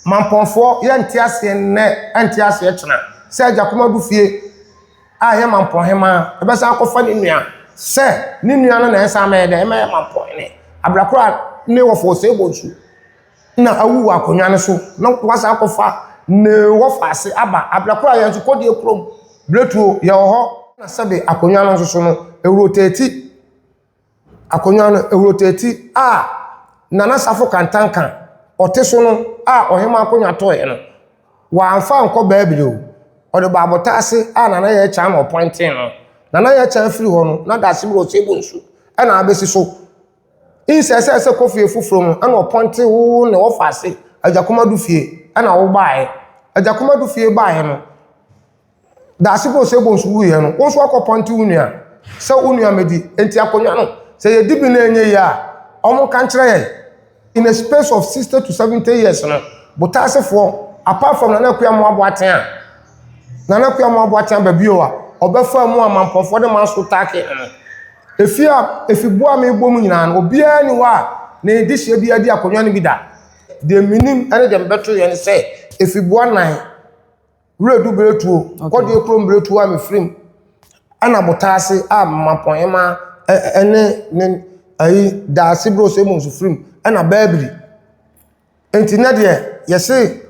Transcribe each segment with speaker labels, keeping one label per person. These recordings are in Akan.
Speaker 1: Mampɔnfoɔ yɛ nte aseɛ nnɛ ɛnte aseɛ kyena sɛ agya koma gu fie a ɛyɛ mampɔn hemaa ɛbɛsan akɔfa ne nua sɛ ne nua no na ɛsan mɛyɛ dɛ ɛmɛyɛ mampɔn hene aberakoro a ne wɔfa ɔsɛe bɔ nsu na awu wɔ akonnwa no so na wasan akɔfa ne wɔfa ase aba aberakoro a yɛn nso kɔdeɛ kurom berɛtuo yɛwɔ hɔ na sɛbe akonnwa no nso so no ɛwurotati akonnwa no awurotati a Nana Safo Kantanka ɔte so no a ɔhemaa akonnwa tɔeɛ no, wɔamfa ankɔ baabi o. Wɔde baa abotan ase a Nana Yaa Kyaan na ɔpɔintee no. Nana Yaa Kyaan firi hɔ no, na Daase Brɔsey Bonsu na abɛsi so. Nsɛsɛsɛ kɔ fie foforɔ mu na ɔpɔintee wo ne wɔfaa se Agyakom Ado fie na wobaeɛ. Agyakom Ado fie baeɛ no, Daase bɛ Osei Bonsu wui yɛ no, wo nso akɔ pɔnte wo nua sɛ wo nua mɛdi. Enti akonnwa no, sɛ yɛdi bi na ɛnyɛ yie a, wɔn ka nkyerɛ yɛn. In a space of 60 to 70 years no, Botaasefoɔ, apart from Nana Kuyamoa Boateng a, Nana Kuyamoa Boateng aba bio a, ɔbɛfaa mu a Mampɔfoɔ de man so taakee no. Efie a, efibuo a mebɔ mu nyinaa no, obiara ni hɔ a, ne dehyeɛ biara di akonnwa no bi da. Deɛ menim ne deɛ mebɛto yɛ ne sɛ, efibuo anan. Wiredu bere tuo, kɔdeɛ kurom bere tuo a mefiri mu, ɛna botaa ase a mmapɔmma ne ne ayi daase bere ose mu nso firi mu, ɛna baabiri. Nti ne deɛ yɛse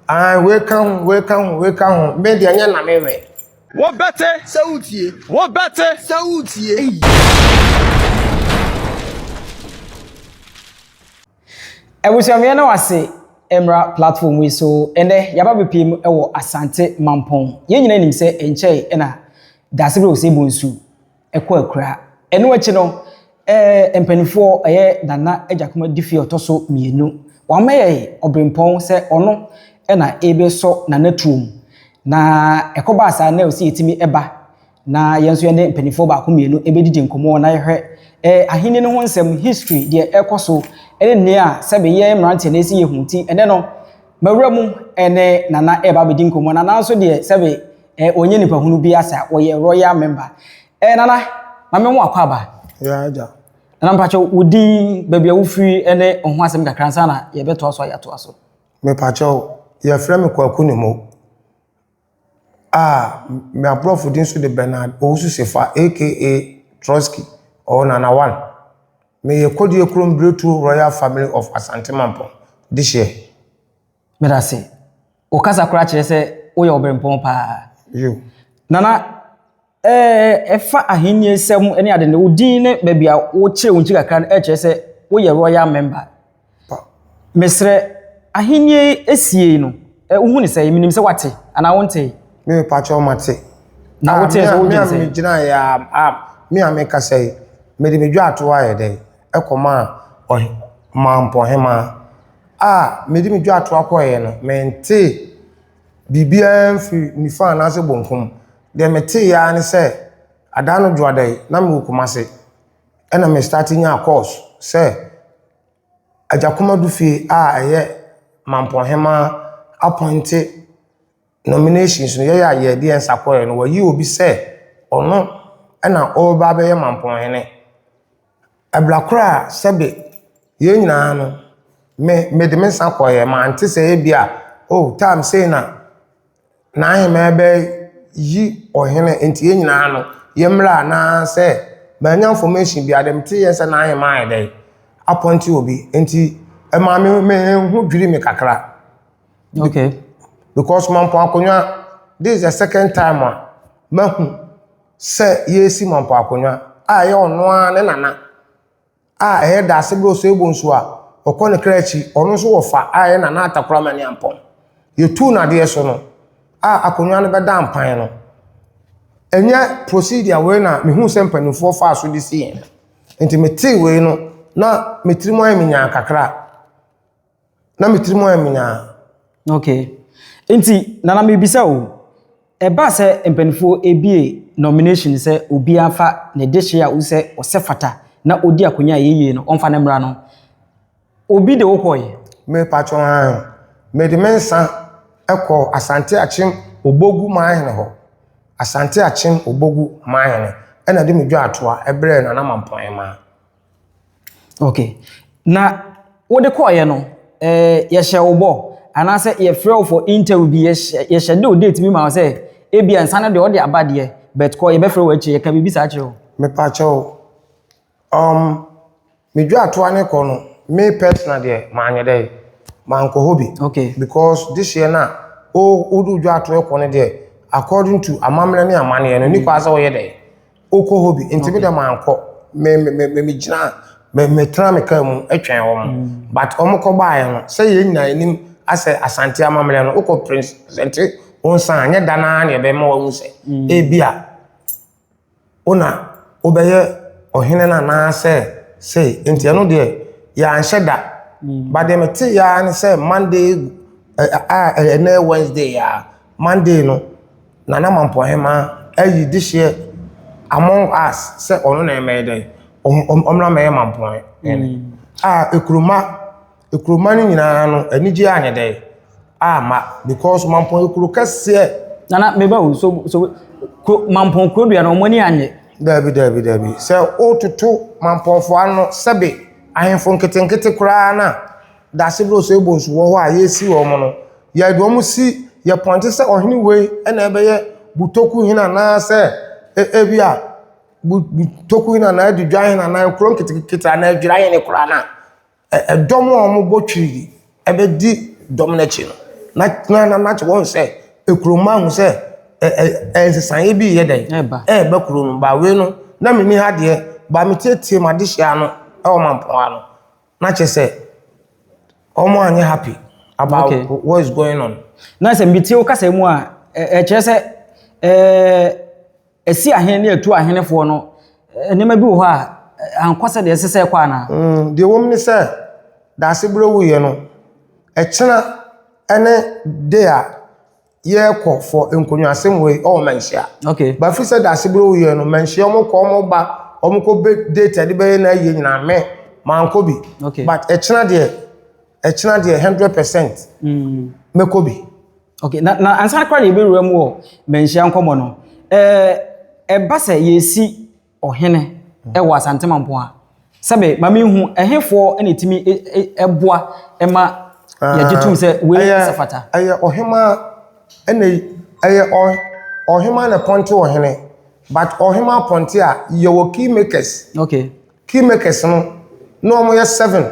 Speaker 1: ahan wei ka ho, wei ka ho, wei ka ho, me deɛ nyɛ na me wɛ. Wo bɛte.
Speaker 2: Sɛ wo tie. Wo
Speaker 3: bɛte.
Speaker 2: Sɛ wo tie. Ei.
Speaker 4: Abusua meyɛ na wase mmra platform yi so ɛnɛ yaba bepie mu ɛwɔ asante mampɔn yɛn nyina nim sɛ ɛnkyɛe ɛna dasebere ose bonsu ɛkɔ akura ɛno akyi no ɛɛ mpanifoɔ ɛyɛ nana agyakoma difie ɔtɔso mienu wamɛyɛ ɔbrempɔn sɛ ɔno ɛna ebe sɔ nana tuom na ɛkɔ baa saa na ose yɛtumi ɛba Na yɛn nso yɛne mpanimfoɔ baako mmienu bɛdidi nkɔmmɔ na yɛhwɛ eh, ahenni no ho nsɛm, history, deɛ ɛkɔ so, ne nea sɛbe yɛn mmeranteɛ na ɛsi yɛhu nti. Ɛnɛ no, mawura mu ne Nana ɛreba abɛdi nkɔmmɔ. Nana nso deɛ sɛbe eh, ɔnyɛ nipa hunu bi asa, ɔyɛ royal member. Eh, Nana, mame ho akɔ aba. Yeah, agya.
Speaker 1: Nana mpakyɛ, wo
Speaker 4: din, baabi a wofiri ne ho asɛm kakra nsa na yɛbɛtoa so a yɛatoa so. Mepakyɛ,
Speaker 1: yɛfrɛ me Kwaku Nimo. a me aborɔfo din nso de Bernard Owusu Sefa aka Trotsky or Nana One. Meyɛ Kodie Kurom Birɛtuo Royal Family of Asante Mampong dehyeɛ. Meda ase.
Speaker 4: Wo kasa koraa kyerɛ sɛ woyɛ Obirɛmpɔn paa. Yo.
Speaker 1: Nana,
Speaker 4: Ɛɛ, fa Ahenni nsɛm ne ade no, wo din ne baabi a wokyerɛ wo nkyi kakra no kyerɛ sɛ woyɛ Royal Member. Mesrɛ, Ahenni asiei no, wohu no sɛn? Menim sɛ woate, anaa wontee? Me, mepakyɛw mate.
Speaker 1: Na wotee sɛ
Speaker 4: wodwen sɛn? Me a migyinae yi a,
Speaker 1: me a mekasa yi, mede me dwatow ayɛ dɛn kɔmaa ɔmanpɔnhemmaa? A mede me dwatow kɔeɛ no, mentee biribiara mfiri nifa anaasɛ benkum. deɛ meteeɛ ara ne sɛ, Adaanodwoada yi na mewɔ Kumase ɛna me start nyaa course sɛ Agyakomadu fie a ɛyɛ Mampɔn Hemaa appointe nominations no yɛyɛ a yɛde yɛn nsa kɔeɛ no wɔayi obi sɛ ɔno ɛna ɔreba abɛyɛ Mampɔn Hene. Ɛbla koro a sɛbe yɛn nyinaa no me mede me nsa kɔeɛ mante sɛ ebi a oh time sei na n'ahemaa bɛyi ɔhene nti yɛn nyinaa no yɛmmra anaasɛ manya information biara deɛ meteeɛ sɛ n'ahemaa ayɛ dɛn apɔnte obi nti ɛma me me ho dwiri me kakra okay
Speaker 4: because
Speaker 1: mampɔn akonnwa this is the second time a mahu sɛ yɛresi Mampɔn Akonnwa a ɛyɛ ɔno ara ne nana a ɛyɛ Daasebrɛ Osuebonsu a ɔkɔ ne kra akyi, ɔno nso wɔ fa a ɛyɛ Nana Atta Kuramani Ampɔn. Yɛtuu no adeɛ so no a akonnwa no bɛdaa mpan no, ɛnyɛ procedure wei na mehuu sɛ mpanimfoɔ faa so de sii yɛn. Nti metee wei no na me tirim ayɛ me nyaa kakra. Na me tirim ayɛ me nyaa.
Speaker 4: Okay. Nti, Nana mebisa o, ɛba sɛ mpanimfoɔ ebie nomination sɛ obiara mfa ne dehye a wohu sɛ ɔsɛ fata na ɔdi akonnwa a ɛyɛ yie no ɔmfa ne mmra no, obi de wo kɔe? Me patrɔ hann.
Speaker 1: Mede me nsa kɔɔ Asante Akyem Obogu Manhene hɔ. Asante Akyem Obogu Manhene na ɛde me dwaa toa brɛɛ Nana Mampɔn Emma.
Speaker 4: Okay, na wode kɔeɛ no ɛɛ yɛhyɛ wo bɔ anaasɛ yɛfrɛ wo for interview bi yɛhyɛ yɛhyɛ de o date bi ma wo sɛ ebi nsa no deɛ ɔde aba deɛ but kɔ yɛbɛfrɛ wo akyire yɛka biribi saa akyerɛ wo. Mepakyɛ wo,
Speaker 1: um, me dwatoa ne kɔ no, me personal deɛ manyɛ dɛ, mankɔ hɔ bi. Okay. Because this
Speaker 4: year na
Speaker 1: o wode wo dwatoa kɔ no deɛ according to amammerɛ ne amanneɛ no, ɛnni kwan sɛ woyɛ dɛ, Wokɔ hɔ bi? Nti me deɛ mankɔ. Me me me me gyinaa me me tena me car mu twɛn wɔn. But wɔn kɔ baeɛ no sɛ yɛn nyinaa yɛnim asɛ Asante amammerɛ no wokɔ presente wo nsa a nyɛ da no ara na yɛbɛma wahu sɛ ebia wo na wobɛyɛ ɔhene no anaasɛ sei. Nti ɛno deɛ yɛanhyɛ da. But deɛ meteeɛ ara ne sɛ Monday a ɛnɛ yɛ Wednesday a. Monday no, Nana Mampɔhemaa ayi dehyeɛ Among Us sɛ ɔno na ɛmɛyɛ dɛn, ɔmra mɛyɛ Mampɔhene. A Ekuroma, Ekuroma no nyinaa no anigyeɛ anyɛ dɛn, amma because Mampɔn yɛ kuro kɛseɛ. Nana meba o,
Speaker 4: so so kuro Mampɔn kuro dua no wɔn ani annye. Daabi daabi daabi,
Speaker 1: sɛ wototo Mampɔnfoɔ ano sɛbe ahemfo nketenkete koraa no a. Dase bere ɔsɔe bɔ nsu wɔ hɔ a yɛresi wɔ hɔ no, yɛde wɔn si yɛ pɔnte sɛ ɔhene wei na ɛbɛyɛ Butoku hene anaasɛ ebi a Butoku hene anaa Adidwa hene anaa nkuro nketenkete anaa Adwira hene koraa no a, dɔm a wɔbɔ twiri bɛdi dɔm no akyi no, na na na na wɔn sɛ kuro mma ahu sɛ ɛ nsesaeɛ bi reyɛ dɛn? Ɛreba. Ɛreba kuro no mu. Ba wei no, na menni ha deɛ, ba metietie m'adehyeɛ ano wɔ Mampɔn ha no. na kyerɛ sɛ wɔn anyɛ happy about okay. what is going on. na sɛ mbitie wo
Speaker 4: kasa mu a ɛkyerɛ sɛ ɛɛ ɛsi ahene ne ɛtu ahenefoɔ no nneɛma bi wɔ hɔ a ankɔ sɛ deɛ ɛsɛ sɛ ɛkɔ anaa. Mm, deɛ wɔm ne sɛ
Speaker 1: daase berɛ wuyɛ no ɛkyena ɛne de a. yɛkɔ for nkonnwaasɛm wei ɔwɔ manhyia okay but fi sɛ
Speaker 4: daase bere wo
Speaker 1: yɛ no manhyia ɔmo kɔ ɔmo ba ɔmo kɔ bɛ date ɛde bɛyɛ na ayie nyinaa mɛ mankɔ bi okay but ɛkyina deɛ ɛkyina deɛ hundred percent mm. mɛkɔ bi. okay na na
Speaker 4: ansa kora na yɛbɛwura mu wɔ manhyia nkɔmɔ no ɛɛ ɛba sɛ yɛsi. ɔhene wɔ Asante Mampoa. Sɛbe ma menhu ɛhefoɔ na ɛtumi boa ma yɛgye tom sɛ wei sɛ fata? Ɛyɛ ɔhemaa
Speaker 1: ɛna ɛyɛ ɔhemaa na pɔnte ɔhene but ɔhemaa pɔnte a yɛwɔ key makers. Okay. Key
Speaker 4: makers no
Speaker 1: na wɔyɛ seven.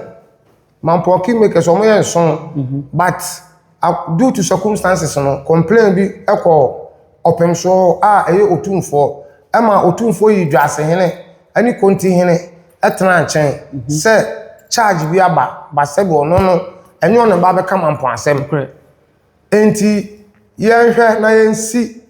Speaker 1: Mampɔn kingmakers wɔn yɛ nson but due to circumstances no complain bi kɔ ɔpem so a ɛyɛ otumfoɔ ɛma otumfoɔ yi dwasehene ɛne kontihene ɛtena nkyɛn sɛ charge bi aba ba sɛbi ɔno no ɛnyɛ ɔne ba bɛka mampɔn asɛm ɛnti yɛnhwɛ na yɛnsi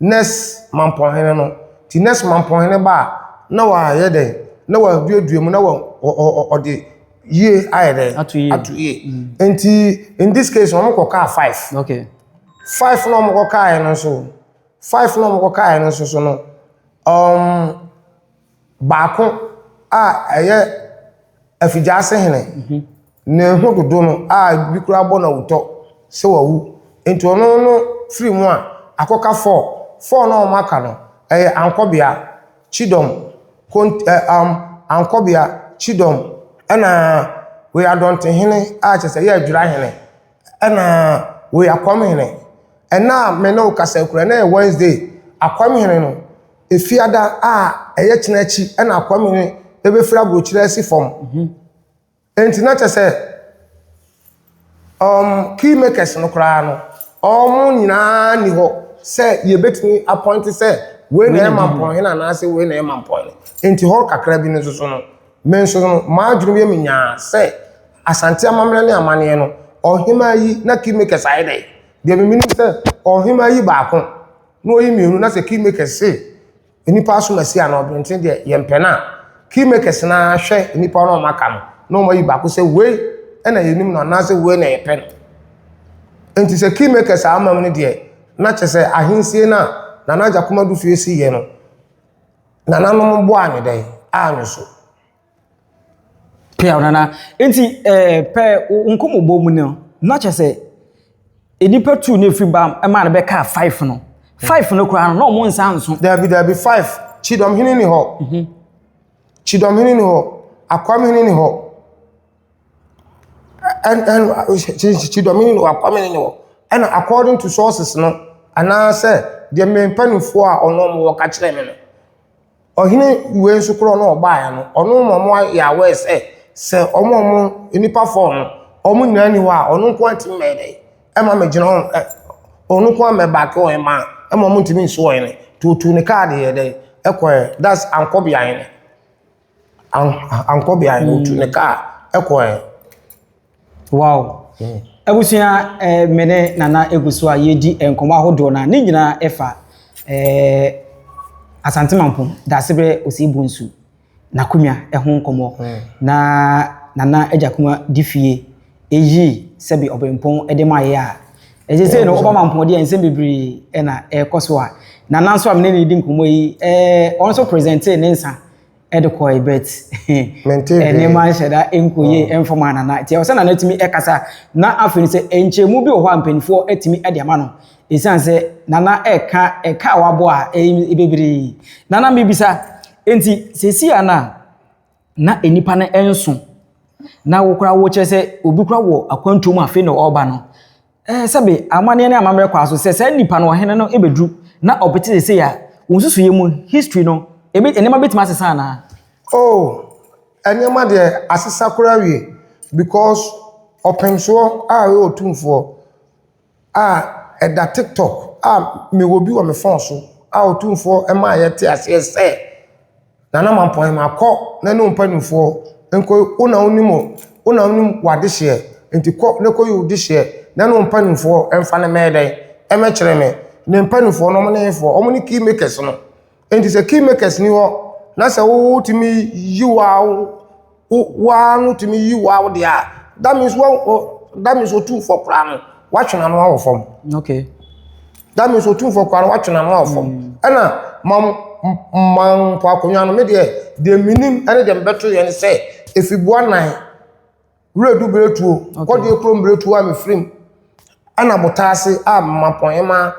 Speaker 1: Nurse mampɔnhene no, nti nurse mampɔnhene ba a, na wayɛ dɛn? Na waduadua mu, na wa ɔ ɔ ɔ ɔde yie ayɛ dɛn? Ato yie. Ato yie. Nti in this case no, wɔkɔkaa five. Okay.
Speaker 4: Five na
Speaker 1: wɔkɔkaeɛ no nso, five na wɔkɔkaeɛ no nso so no, um, Baako a ɛyɛ afigyaase hene, ne ho dodo no a bi koraa bɔ no awutɔ sɛ wawu. Enti ɔno no firi mu a, akɔka Four. Four no a wɔaka no, ɛyɛ Ankɔbea, Chidom, Kont ɛ um Ankɔbea, Chidom, ɛna Weadɔntehene a kyerɛ sɛ ɛyɛ Adwirahene. Ɛna wei Akwamehene. Ɛna a me ne wo kasa yi koraa, ɛna yɛ Wednesday. Akwamehene no, Efiada a ɛyɛ kyena akyi ɛna Akwamehene ɛbɛfiri aburokyire asi fam. Enti na kyɛ sɛ um, key makers no koraa no, wɔn nyinaa ni hɔ sɛ yɛbɛtumi apɔinte sɛ wei na ɛyɛ Mampɔnhene anaasɛ wei na ɛyɛ Mampɔnhene. Enti hɔ kakra bi no nso so no, Me nso no, m'adwenem yɛ me nyaa sɛ Asante amammerɛ ne amanneɛ no, ɔhemaa yi na kingmakers ayɛ dɛ. Deɛ me menim sɛ ɔhemaa yi baako na ɔyi mmienu na sɛ kingmakers se nnipa asom asi anaa ɔbrɛnten deɛ yɛmpɛ no a, kingmakers no ara hwɛ nnipa no a wɔaka no na wɔn ayi baako sɛ wei na yɛnim no anaa sɛ wei na yɛpɛ no. Enti sɛ kingmakers a ama mu no deɛ na kyɛ sɛ ahensie no a Nana Agya Komadu Fie si yɛ no Nananom boaa no dɛn? Anwo so. Pɛɛ
Speaker 4: nana. Nti ɛɛ eh, pɛɛ nkɔmɔbɔ mu no, na kyɛ sɛ nnipa tu na efiri ba ɛma no bɛka five no. Five no koraa no, na wɔn nsa nso. Dabi dabi five.
Speaker 1: Kyidɔmhene ni hɔ. Mhm. Kyidɔmhene ni hɔ. Akwamhene ni hɔ. Ɛna according to sources no anaasɛ deɛ me mpanimfoɔ a wɔn a wɔka kyerɛɛ me no, ɔhene wei nso korɔ no a ɔbaeɛ no, ɔno na wɔayɛ aware sɛ, sɛ wɔn a wɔn, nnipa four no, wɔn nyinaa nni hɔ a, ɔno nko ara ntumi mmɛyɛ dɛn, mma mmɛgyina hɔ, ɛ, ɔno nko ara mmɛbacke wɔn mma mma wɔntumi nsi wɔn hene. Nti ɔtuu ne kaa de yɛɛ dɛn, kɔeɛ. That's Ankɔbea hene. An ankɔ beaeɛ no, ɔtu ne hmm. kaa kɔɛ.
Speaker 4: Wow. Hmm. Abusua eh, me ne Nana egu so a yɛredi nkɔmɔ ahodoɔ na ne nyinaa ɛfa eh, Asante Mampom Dasebrɛ Osei Bonsu n'akonwa ɛho nkɔmɔ hmm. na Nana Agya Kuma di fie. eyi sɛbe ɔbempɔn de ma yɛ a, ɛsɛ sɛ no ɔbɛma mpɔnde a nsɛm bebree na ɛkɔ so a na nanso a mene ne di nkɔmmɔ yi ɛɛ ɔno nso presente ne nsa ɛde kɔe bet nneɛma nhyɛ da nkɔyie ɛmfa ma nana nti ɛwɔ sɛ nana tumi ɛkasa na afei no sɛ nkyɛmu bi wɔ hɔ a mpanimfoɔ atumi ɛde ama no ɛsiane sɛ nana ɛka ɛka a wabɔ a ɛyi bebree nana mebisa nti sɛsi a na na nnipa no nso, na wo koraa wokyerɛ sɛ obi koraa wɔ akwantuo mu afei na ɔreba no, ɛɛ sɛbe amanneɛ ne amammerɛ kɔ so sɛ saa nipa no ɔhene no bɛduru na ɔpete sese a, wɔn nsusuiɛ mu history no, ebi nneɛma bɛtumi asesa anaa? Oh, nneɛma
Speaker 1: deɛ asesa koraa awie because ɔpemsoɔ a ɔyɛ otumfoɔ. a ɛda tiktok a mewɔ bi wɔ me phone so a ɔtumfoɔ maa yɛte aseɛ sɛ, Nana Mampɔn makɔ na ne wo mpanimfoɔ nkɔ wo na wonim wo wo na wonim w'adehyeɛ nti kɔ na kɔyi wo dehyeɛ na ne wo mpanimfoɔ mfa no mmɛyɛ dɛn, mmɛkyerɛ me. Ne mpanimfoɔ no wɔne hefoɔ? Wɔne key makers no. Enti sɛ kingmakers ni hɔ na sɛ wotumi yi waw waa no tumi yi waw deɛ a that means wa that means otu fɔ koraa no watwe n'ano awɔ fam. Okay.
Speaker 4: That means
Speaker 1: otu fɔ koraa no watwe n'ano awɔ fam. Mm. Ɛna mam mam mpo akonnwa no me deɛ deɛ minim ɛne deɛ mbɛto yɛ ne sɛ efibua nan. Wiredu Mmiretuo, Kɔdeɛ Kuro Mmiretuo a mefiri mu, ɛna Botaa ase a Mapɔnhemaa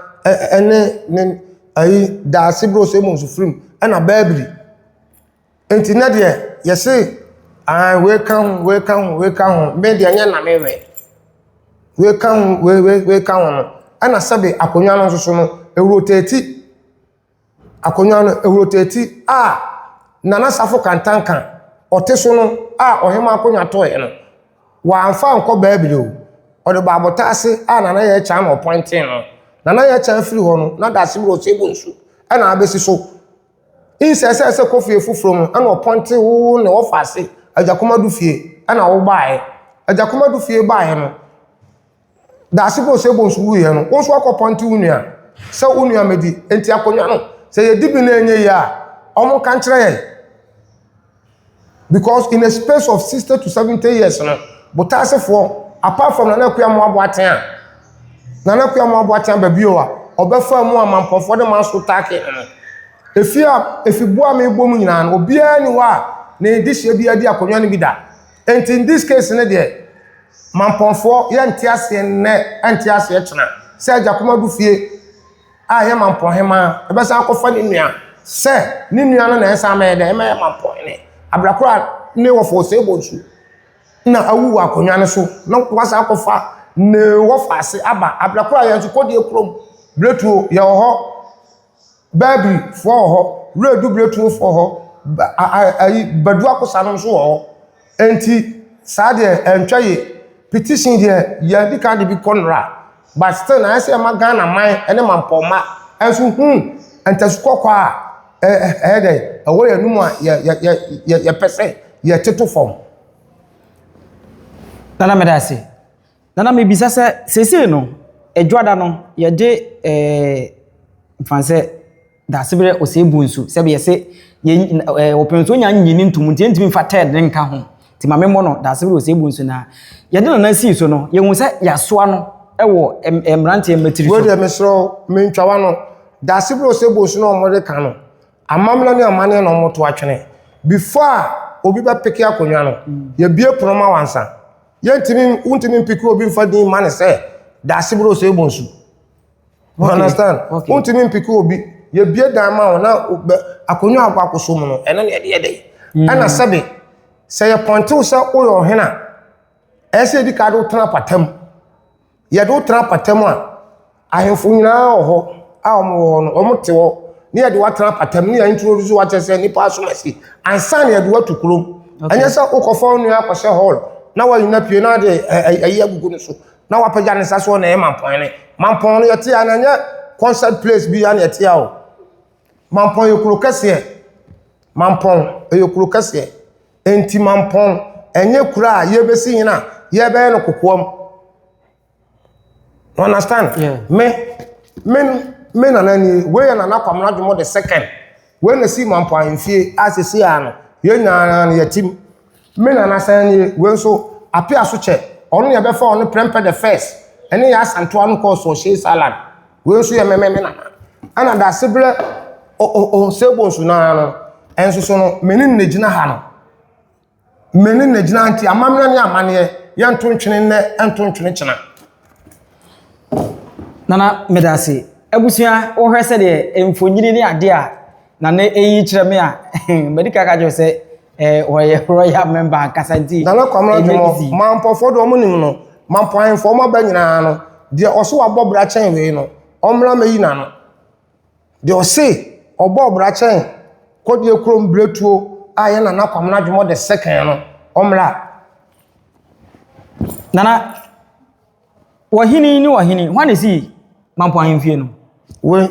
Speaker 1: ne ne ayi Daase Brosemo nso firi mu, ɛna Bɛɛbiri. Nti nɛ deɛ yɛse ahan wei ka ho, wei ka ho, wei ka ho, me deɛ nyɛ na me wɛ. Wei ka ho, wei wei wei ka ho no, ɛna sɛbe akonnwa no nso so no, ɛrotɛti. Akonnwa no, ɛrotati a Nana Safo Kantanka, ɔte so no a ɔhemaa akonnwa tɔɔeɛ no, wɔamfa ankɔ baabi o. Ɔde baa abɔtaa ase a Nana Yaa Kyang na ɔpɔintee no. Nana Yaa Kyang firi hɔ no, na Daase Muro Oseibo Nsu na abɛsi so. Nsɛsɛɛ sɛ kɔ fie foforɔ mu na ɔpɔintee wo ne wɔ faa se Agyakomadu fie na wo baaeɛ. Agyakomadu fie baaeɛ no, Daase bɔ sɛ bonsu wu yɛ no, wo nso akɔ pɔnte wo nua sɛ wo nua mɛdi. Enti akonnwa no, sɛ yɛdi bi na ɛnyɛ yie a, wɔn ka nkyerɛ yɛn. Because in a space of 60 to 70 years no, Botaasefoɔ, apart from Nana Akua Mmoabo Aten a, Nana Akua Mmoabo Aten aba bio a, ɔbɛfa mu a Mampɔfoɔ de man so taake no. Efie a, efiboa a mebɔ mu nyinaa no, obiara ni hɔ a ne dehyeɛ bi adi akonnwa no bi da. Nti in this case no deɛ Mampɔnfoɔ yɛnte aseɛ nnɛ ɛnte aseɛ kyena sɛ Agya Komadu fie a ɛyɛ Mampɔn hemaa ɛbɛsan akɔfa ne nua sɛ ne nua no na ɛnsan mɛyɛ dɛ ɛmɛyɛ Mampɔn hene abrakoro a ne wɔfa Osei Bonsu na awu wɔ akonnwa no so na wasan akɔfa ne wɔfa ase aba abrakoro a yɛn nso kɔdie kurom Bretuo yɛwɔ hɔ Bɛɛbirifoɔ wɔ hɔ, Wura Adu Biratumofoɔ wɔ hɔ, ba a a ayi Badu Akosa no nso wɔ hɔ. Enti saa deɛ ɛntwa yie. Petition deɛ yɛadi kan de bi kɔ nnora but still no ayɛ sɛ yɛma Ghana man ne mampɔnma nso hu ntasu kɔkɔɔ a ɛ ɛ ɛyɛ dɛn, ɛwɔ yɛn anom a yɛ yɛ yɛ yɛ yɛpɛ sɛ yɛtoto fam.
Speaker 4: Nana meda ase. Nana mebisa sɛ seesei no adwada no yɛde ɛɛ mfa sɛ daasebrɛ ɔsɛe bu nsu sɛbi yɛse yɛ ɛɛ wɔpɛn so nya nyi ne ntum nti yɛntumi mfa tɛɛd ne nka ho nti ma memmɔ no daasebrɛ ɔsɛe bu nsu na yɛde nana sii so no yɛhu sɛ yɛasoa no ɛwɔ ɛɛ mmeranteɛ mma tiri so. Wei deɛ mesrɛ wo
Speaker 1: mentwa w'ano daasebrɛ ɔsɛe bu nsu na wɔde ka no amamena ne amaneɛ na wɔto atwene before a obi bɛpeke akonnwa no yɛbue pono ma wo ansa. Yɛntumi, wontumi mpiki obi mfa din ma ne sɛ daase bro sɛ ebɔ nsu. You understand? Okay. Wontumi mpiki obi. Yɛbie dan ma wo na akonnwa akɔ akɔsɔ mu no, ɛno na yɛde yɛ dɛ. Mm. Ɛna sɛbe, sɛ yɛpɔntew sɛ woyɛ ɔhene a, ɛsɛ yɛdi ka de wotena apatam. yɛde wo tena apata mu a ahemfo nyinaa wɔ hɔ a wɔn wɔ hɔ no wɔn te hɔ ne yɛde watena apata mu ne yɛn ntoro so wakyɛ sɛ nipa asom asi ansa na yɛde watu kurom ɛnyɛ sɛ wokɔfa wo nua akɔhyɛ hall na wanyina pie na de ayi agugu no so na wapagya ne nsa so na ɛyɛ mampɔn ne mampɔn no yɛte a na ɛnyɛ concert place bi a na yɛte a o Mampɔn yɛ kuro kɛseɛ. Mampɔn ɛyɛ kuro kɛseɛ. Nti Mampɔn ɛnyɛ kuro a yɛbɛsi hene a yɛbɛyɛ no kokoam. You understand? Yeah. Me, me, me nana ni, wei yɛ nana Kwamena Dwomo the second. Wei na si Mampɔn ahemfie a sisi a no, yɛn nyinaa no yɛtim. Me nana sɛn nie, wei nso apea so kyɛ, ɔno na yɛbɛfa ɔno Prempeh the first ɛne yɛ asantewa no kɔɔ Sources Island, wei nso yɛ mɛmɛ me nana. Ɛna Dasebrɛ Osebo nso no ara no, ɛnso so no me ne no na gyina ha no, me ne no na gyina ha nti amammerɛ ne amanneɛ yɛnto ntwene nnɛ ɛnto ntwene kyena.
Speaker 4: Nana meda ase. Abusua wohwɛ sɛdeɛ mfonini ne adeɛ a Nana ɛyi kyerɛ me a, madi kan aka kyerɛ wo sɛ, Eh, wɔyɛ royal member ankasa nti. Nana Kwame Adwomo,
Speaker 1: Mampɔfoɔ deɛ wɔn nim no, Mampɔ ahemfoɔ wɔn aba nyinaa no, deɛ ɔso wabɔ bra kyɛn wei no, ɔmmra mɛyi n'ano. Deɛ ɔse ɔbɔɔ bra kyɛn Kɔdeɛ kurom berɛtuo a ɛyɛ Nana Kwame Adwomo the second no, ɔmmra.
Speaker 4: Nana. Ɔhene ne ɔhene, hwan na ɛsii Mampong ahemfie no? Wei,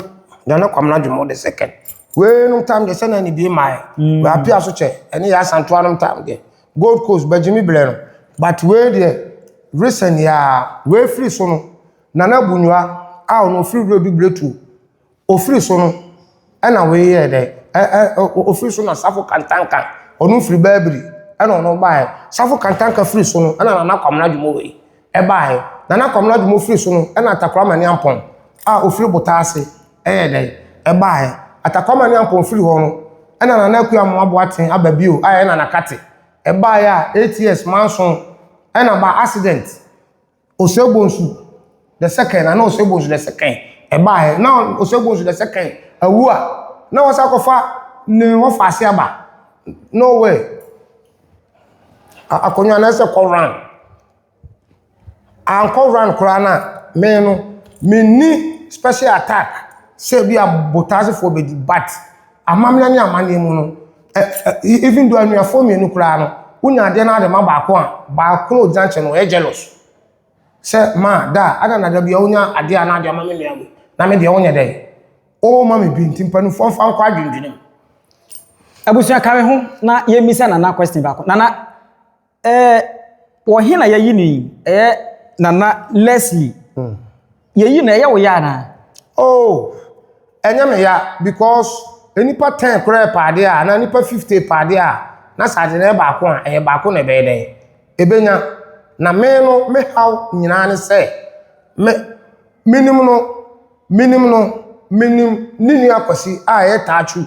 Speaker 1: Nana Kwamena Dwomo the second. Wei nom tam deɛ sɛnɛ ne bie mae. Mm. Wei apia so kyɛ, ɛne yɛ asantoa nom tam deɛ. Gold Coast, Bagyimi Blɛ no. But wei deɛ, recent yaa, wei firi so no, Nana Bunyua a ɔno ɔfiri Wuradu Bretuo. Ofiri so no na wei yɛɛ dɛ ɛ ɛ ɛ ofiri so na Safo Kantanka ɔno firi Babiri na ɔno baeɛ. Safo Kantanka firi so no na Nana Kwamena Dwomo wei baeɛ. Nana Kwamena Dwomo firi so no na Atakorɔ Amani Ampɔn a ɔfiri Botaase yɛɛ dɛ baeɛ. Atakorɔ Amani Ampɔn firi hɔ no na Nana Akua Amoah Boateng aba bio a ɛyɛ Nana Kate baeɛ a eight years manson na ba accident. Osuabonsu the second ana Osuabonsu the second ɛbaeɛ na Osuabonsu the second awu a na wɔsan akɔfa ne wɔfaase aba no wɛ akonnwa na ɛsɛ kɔ run ankɔ run koraa na me no menni special attack sɛ bi a botaasefoɔ bɛdi but amammerɛ ne amanneɛ mu no Even though anuafoɔ mmienu koraa no, wonya adeɛ no ara de ma baako a, baako no a ɔgyina nkyɛn no ɔyɛ jealous. Sɛ ma da a, ada na da bi a wonya adeɛ a na ade ama me nua wei, na me deɛ wonyɛ dɛn? Woma me bi nti mpanimfoɔ mfa nkɔ adwendwenem.
Speaker 4: Abusua ka me ho na yɛmmisa Nana question baako. Nana, Ɛɛ, wɔ he na yɛayi no yi? Ɛyɛ Nana Leslie. Mm. Yɛyi no, ɛyɛ wo ya anaa? Oh,
Speaker 1: ɛnyɛ me ya because nnipa ten koraa pɛ adeɛ a, anaa nnipa fifty pɛ adeɛ a, na sɛ ade no yɛ baako a, ɛyɛ baako na ɛbɛyɛ dɛn? Ɛbɛnya. Na me no, me haw nyinaa ne sɛ, me, menim no, menim no, menim ne nua Kwasi a ɛyɛ Taachu.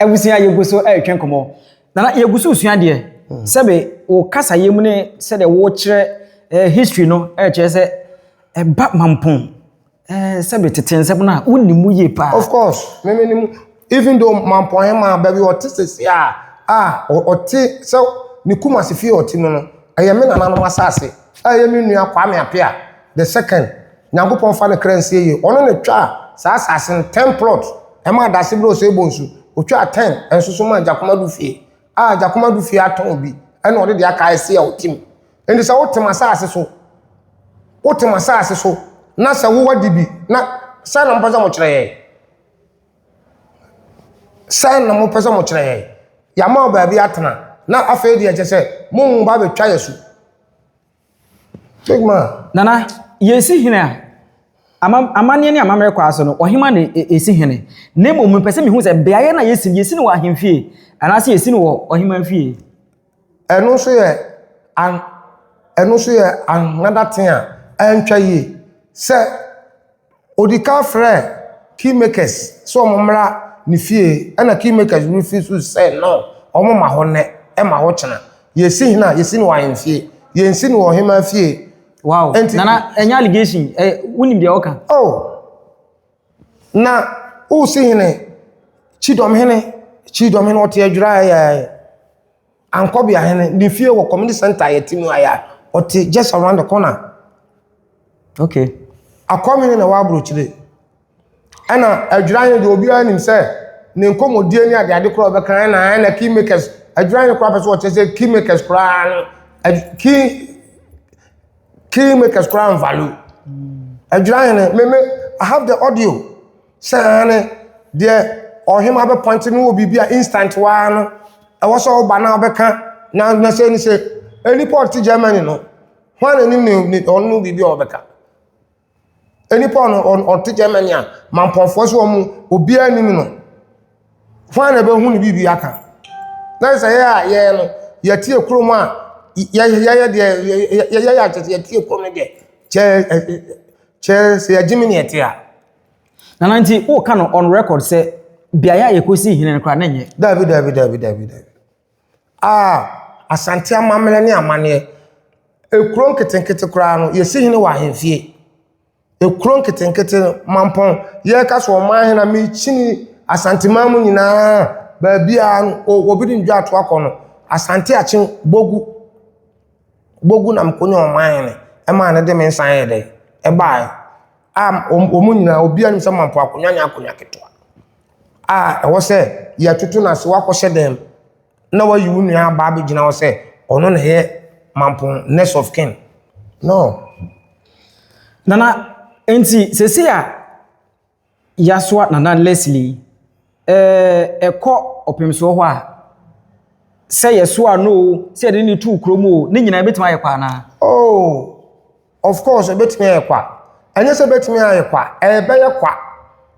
Speaker 4: Abusua, yɛgu so retwe nkɔmmɔ. Nana, yɛgu so resua deɛ. Sɛbe wo kasayɛ mu ne sɛdeɛ wokyerɛ eh, history no ɛkyerɛ sɛ ɛba mampɔn eh, sɛbe tete nsɛm no a wonim mu yie paa. Of course, me me nim.
Speaker 1: Even though mampɔn he maa baabi ɔte sese a, a ɔte sɛ ne Kumasi fie ɔte mu no, ɛyɛ me nananom asase a ɛyɛ me nua Kwame Apea. The second, Nyankopɔn fa ne kra nsie yie. Ɔno na twaa saa asase no ten plot, ɛmaa dase berɛ ɔsɛ ɛbɔ nsu. Ɔtwaa ten nso so maa Gyakomadu fie. A Gyakomadu fie atɔn bi, ɛna ɔde deɛ aka ɛse a ɔtim. Enti sɛ wotem asase so, wotem asase so, na sɛ wo wadi bi, na sɛn na mopɛ sɛ mokyerɛ yɛn? Sɛn na mopɛ sɛ mokyerɛ yɛn? Yɛama wo baabi atena, na afei deɛ ɛkyɛ sɛ mo ba bɛtwa yɛ so. Big man. Nana, yɛsi
Speaker 4: hene a, ama, amanneɛ ne amammerɛ kɔ ase no, ɔhema na ɛsi hene. Na mmom mepɛ sɛ mehu sɛ beaeɛ na yɛsi no, yɛsi no wɔ ahemfie anaasɛ yɛsi no wɔ ɔhema fie. Ɛno nso
Speaker 1: yɛ an, ɛno nso yɛ another thing a ɛntwa yie sɛ Ɔdi kan frɛɛ Kingmakers sɛ wɔn mmra ne fie ɛna Kingmakers refuse sɛ no wɔn mma hɔ nnɛ ɛma hɔ kyena yɛsi hena yɛsi no wɔ ahemfie yɛnsi no wɔ ɔhemaa fie. Wow Enti, nana
Speaker 4: ɛnyɛ allegation ɛ wonim deɛ ɔka. Oh
Speaker 1: na wosi hene kyidɔm hene kyidɔm hene ɔte adwira ɛyɛ. Ankorbea hɛn ne fie wɔ community centre a yɛtse mu ha yi a, ɔtse just around the corner.
Speaker 4: Okay. Akɔnwene
Speaker 1: na ɛwɔ aburokyire. Ɛna Adwiranye deɛ obiara nim sɛ ne nkɔmmɔdie ne adeade koraa ɔbɛka ɛna ɛna key makers Adwiranye koraa pɛ sɛ ɔkyerɛ sɛ key makers koraa no key key makers koraa nvalu. Adwiranye no me me I have the audio. Sɛ aane, deɛ ɔhema bɛpɔinte no wɔ biribi a instant hɔ ara no, ɛwɔ sɛ ɔba na ɔbɛka, na na sɛ ni sɛ, nnipa a ɔte Germany no, hwan na nim ne, ne ɔno no biribi a ɔbɛka? Nnipa a ɔno ɔte Germany a mampɔnfoɔ so wɔn obiara nim no, hwan na ɛbɛhu ne biribi aka? Na sɛ yɛ a yɛn no, yɛtie kurom a yɛyɛ deɛ yɛyɛ yɛ akyɛ sɛ yɛtie kurom no deɛ, kyɛ kyɛ sɛ yɛgye me ne ɛte a. Nana
Speaker 4: nti o ka no on record sɛ beaeɛ a yɛkɔsi hene no koraa na nyɛ. Dabi dabi dabi dabi dabi.
Speaker 1: Ah Asante amammerɛ ne amaneɛ. Ekuro nketenkete koraa no yɛsi hene wɔ ahemfie. Ekuro nketenkete no mampɔn yɛka so ɔman hene a mekyini Asante man mu nyinaa baabi a no obi de ndwa ato akɔ no Asante akye bogu. bogu na mekɔnya ɔman no, ɛmaa no de me nsa yɛɛ dɛ, ɛbaeɛ a wɔn mu nyinaa obiara nim sɛ Mampong akonnwa nyɛ akonnwa ketewa a ɛwɔ sɛ yɛtoto no ase, woakɔhyɛ dan mu na woayi wo nua aba abɛgyina hɔ sɛ ɔno na ɛyɛ Mampong next of kin, no.
Speaker 4: Nana, enti seesei a Yasua Nana Leslie, Ɛɛ, ɛkɔ ɔpemsoɔ hɔ a, sɛ yɛsoaa no o, sɛ yɛde no too kurom o, ne nyinaa ɛbɛtumi ayɛ kwa anaa? Oh,
Speaker 1: of course ɛbɛtumi ayɛ kwa. Ɛnyɛ sɛ ɛbɛtumi ayɛ kwa, ɛbɛyɛ kwa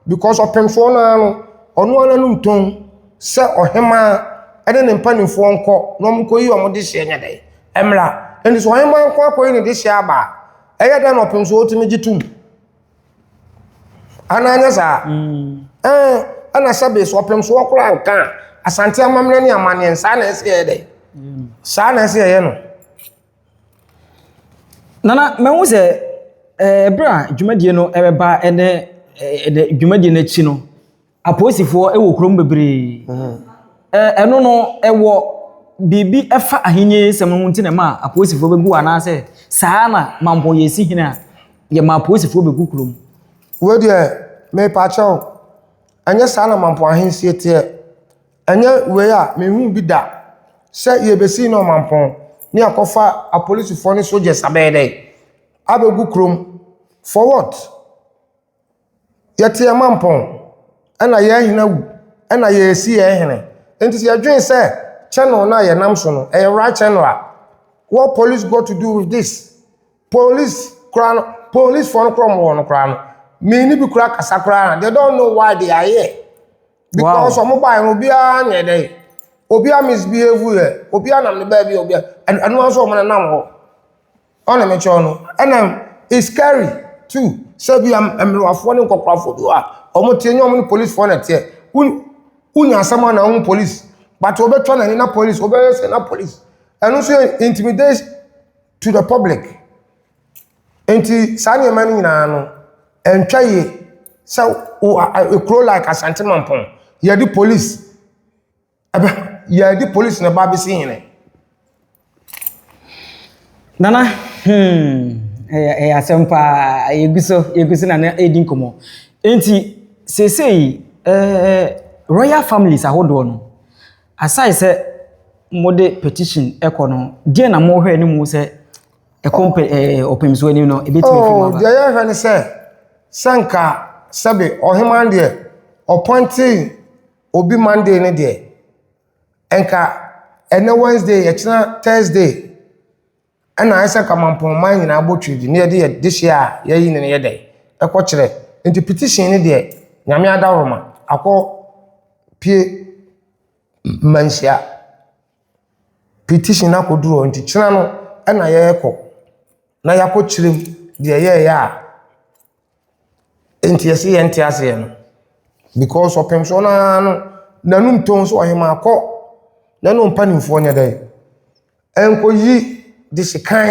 Speaker 1: because ɔpemsoɔ no ara no, ɔno ara n'anum tɔn sɛ ɔhemaa ne ne mpanimfoɔ nkɔ na wɔnkɔyi wɔn dehyeɛ nyɛ dɛn? Mmra. Ɛnti sɛ ɔhemaa nko ara kɔyi ne dehyeɛ aba a, ɛyɛ dɛn na ɔpemsoɔ tumi gye tom? Anaa nyɛ saa? Mm. Eh, ɛna sɛ base ɔpem so ɔkora nka a, asante amammerɛ ne amanneɛ saa na ɛsɛ yɛ dɛ. Mm. Saa na ɛsɛ yɛ no.
Speaker 4: Nana, mɛhu sɛ ɛberɛ eh, a dwumadie no ɛbɛba ɛnɛ eh, eh, dwumadie no akyi no, Apolisifoɔ wɔ kurom bebree. Ɛno no, ɛwɔ biribi ɛfa ahenni sɛm no ho nti na ɛma apolisifoɔ bɛgu anaasɛ saa na mampɔn yɛ si hene a yɛma apolisifoɔ bɛgu kurom? Wei deɛ
Speaker 1: mepakyɛ wo, ɛnyɛ saa na mampɔn ahensie teɛ. Ɛnyɛ wei a menhuu bi da sɛ yɛbɛsi ne ɔmampɔn ne yɛakɔfa apolisifoɔ ne soldiers abɛyɛ dɛn? Abɛgu kurom for what? Yɛte yɛn mampɔn, ɛna yɛn hene awu, ɛna yɛresi yɛn hene. Nti sɛ yɛdwene sɛ channel no a yɛnam so no, ɛyɛ right channel a, what police got to do with this? Police koraa no, policefoɔ no koraa a wɔwɔ no koraa no, me ne bi koraa kasa koraa a, they don't know why they are here. Because Wow. wɔn baeɛ no, obiara nyɛ dɛ. Obiara misbehave yɛ, obiara nam ne baabi, obiara ɛno ɛno ara nso wɔn nenam hɔ. Ɔne me kyɛw no ɛna it's scary too sɛ bi a mmerewafoɔ ne nkɔkorafoɔ bi wɔ a wɔn teɛ nyɛ wɔn ne policefoɔ na ɛteɛ wo wonya asɛm a na wɔn police but wɔbɛtwa n'ani na police wɔbɛyɛ sɛ na police ɛno nso yɛ intimidate to the public nti saa nneɛma no nyinaa no ɛntwa yie sɛ wo a- a- ekuro like asante mampɔn yɛde police Ɛbɛ yɛde polisi na ɛba abɛsi hene.
Speaker 4: Nana, hmm, ɛyɛ ɛyɛ asɛm paa. Yɛgu so, yɛgu so na na ɛredi nkɔmmɔ. Enti, seesei, eh, royal families ahodoɔ no, aside sɛ mode petition ɛkɔ no, deɛ na mohwɛ no mu sɛ ɛkɔ mpɛ ɛɛ ɔpɛmsoɔ anim no, ɛbɛtumi afiri mu Oh, aba. deɛ yɛhwɛ ne sɛ,
Speaker 1: sɛ nka sɛbe ɔheman deɛ ɔpɔnte obi Monday no deɛ, nka ɛnnɛ Wednesday, ɛkyena Thursday, ɛna ayɛ sɛ nka mampɔnman nyinaa bɔ twi de ne yɛde yɛ dehyeɛ a yɛyi ne no yɛ dɛn ɛkɔ kyerɛ nti petition no deɛ nyame adaworoma akɔ pie manhyia petition no akɔduru hɔ nti kyena no ɛna yɛkɔ na yɛakɔ kyerɛ mu deɛ yɛyɛ a Enti ɛse yɛn te aseɛ no because ɔpem soɔ no ara no n'anum tɔn so ɔhemaa kɔ na ne wo mpanimfoɔ nyɛ dɛn ɛnkɔyi de sekan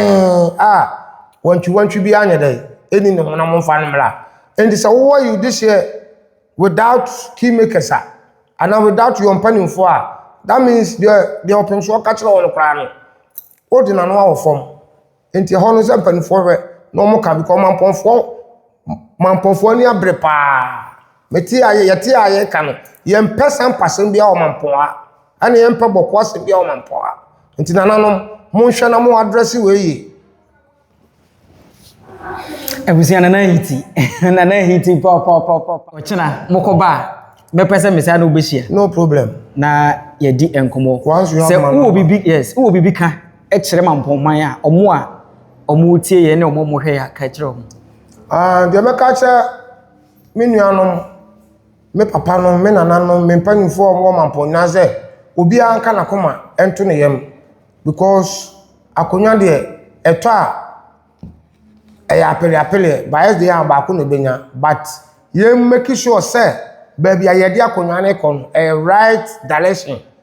Speaker 1: a wantwiwantwi bi anyɛ dɛn ɛni ne ho na mo mfa no mmra enti sɛ wowɔ you this year without key makers a anaa without your mpanimfoɔ a that means deɛ deɛ ɔpem soɔ ka kyerɛ wo no koraa no wode n'ano awo fam Nti ɛhɔ no sɛ mpanimfoɔ hwɛ na wɔn ka because mampɔnfoɔ mampɔnfoɔ ani abere paa mete a yɛte a yɛka no yɛmpɛ sampa asɛm biara wɔ mampɔn ha ɛna yɛmpɛ bɔkɔ asɛm biara wɔ mampɔn ha nti nananom monhwɛ na mo adrɛse wɔ yie.
Speaker 4: Abusua nana ahiti nana ahiti pɔpɔpɔpɔ ɔkyena mokɔ ba a mɛpɛ sɛ mesan na wobɛhyia. No problem. Na
Speaker 1: yɛdi
Speaker 4: nkɔmɔ. Once you have sɛ wowɔ biribi
Speaker 1: yes
Speaker 4: wowɔ biribi ka. kyerɛ ma mpɔnman a ɔmo a ɔmo tie yɛn ne ɔmo a ɔmo hwɛ yɛn ka kyerɛ ɔmo? Ah, deɛ mɛka
Speaker 1: akyerɛ me nuanom, me papanom, me nananom, me mpanimfoɔ a wɔwɔ mampɔn nyinaa sɛ, obiara nka n'akoma nto ne yam because akonnwa deɛ ɛtɔ a ɛyɛ apeleapeleɛ, bias deɛ a baako na ɛbɛnya but yɛn make sure sɛ baabi a yɛde akonnwa no rekɔ no ɛyɛ right direction.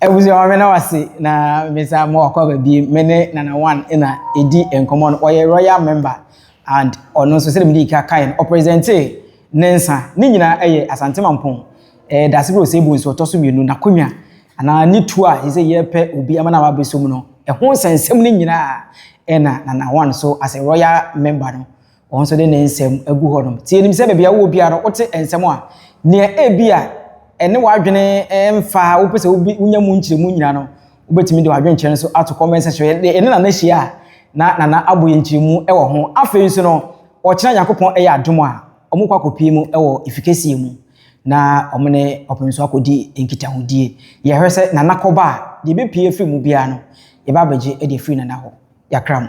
Speaker 4: Abusua meda mo ase na mesa mo akɔ aba bi me ne Nana One na edi nkɔmɔ no ɔyɛ royal member and ɔno nso sɛdeɛ mede ka kae no ɔpresente ne nsa ne nyinaa ɛyɛ Asante Mampɔn ɛɛ Daase Bro Sebu nso ɔtɔ so mmienu n'akonnwa anaa ne tuo a ɛsɛ yɛpɛ obi ama no aba abɛsɔ mu no ɛho nsɛnsɛm no nyinaa ɛna Nana One so as a royal member no Wɔn nso de ne nsɛm agu hɔnom. Nti yenim sɛ baabi a wowɔ biara no, wote nsɛm a nea ebia ɛne w'adwene mfa a wopɛ sɛ wunya mu nkyerɛmu nyinaa no, wubetumi de w'adwenkyerɛ no nso ato comment section. Yɛne Nana hyia a, na Nana abɔ yɛn nkyerɛmu wɔ ho. Afei nso no, ɔkyena Nyankopɔn yɛ adom a, wɔkɔ akɔpue mu wɔ Ifikɛseɛ mu na wɔne ɔpem nso akɔdi nkitahodie. Yɛhwɛ sɛ Nana kɔba a, deɛ ɛbɛpue afiri mu biara no, yɛba abɛgye de afiri Nana hɔ. Yɛakra mo.